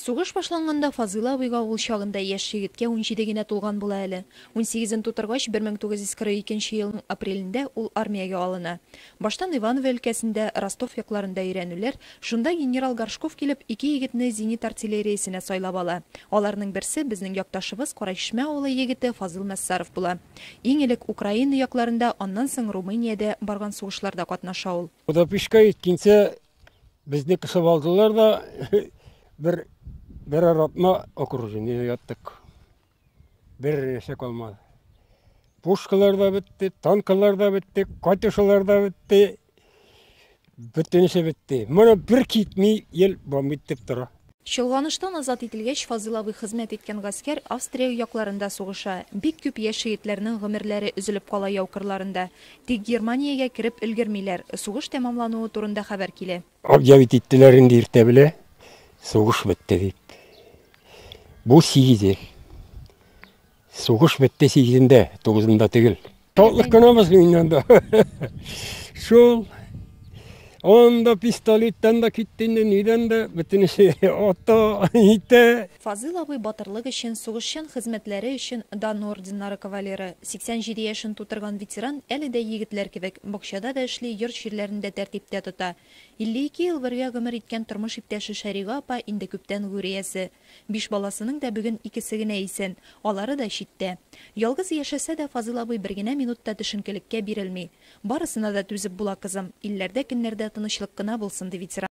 Сугыш башланганда Фазыйл абыйга ул чагында яшь егеткә унҗиде генә тулган була әле. Унсигезен тутыргач, 1942 елның апрелендә ул армиягә алына. Баштан Иваново өлкәсендә, Ростов якларында өйрәнүләр, шунда генерал Горшков килеп, ике егетне зенит артиллериясенә сайлап ала. Аларның берсе, безнең якташыбыз, Карачишмә авылы егете Фазыйл Нәссаров була. Иң элек Украина якларында, аннан соң Румыниядә барган сугышларда катнаша ул. Кудапишка еткенче безне кысып алдылар да, бер берәр атна окружениедә яттык. Бер нәрсә калмады. Пушкалар да бетте, танкалар да бетте, катюшалар да бетте. Бөтенесе бетте. Моны бер китми ел бом итеп тора. Чолганыштан азат ителгәч, Фазил абый хезмәт иткән гаскәр Австрия якларында сугыша. Бик күп яшь егетләрнең гомерләре өзелеп кала яу кырларында. Тик Германиягә кереп өлгермиләр. Сугыш тәмамлануы турында хәбәр килә. Объявить иттеләр инде иртә белә, сугыш бетте дип. Бу сигез ел. Сугыш бетте сигезендә, тугызында тегел. Шатлык кына без инде Шул Анда пистолеттан да китте инде, нидән дә, бөтенесе ата, итә. Фазил абый батырлык өчен, сугышчан хезмәтләре өчен дан орденнары кавалеры, 87 яшен тутырган ветеран әле дә егетләр кебек, бакчада да эшли, йорт-җирләрен дә тәртиптә тота. 52 ел бергә гомер иткән тормыш иптәше Шәрига апа инде күптән гүриясе. Биш баласының да бүген икесе генә исән, алары да читтә. Ялгыз яшәсә дә, Фазыл абый бер генә минут та төшенкелеккә бирелми. Барысына да түзеп була, кызым, илләрдә-көннәрдә тынычлык кына булсын, ди ветеран.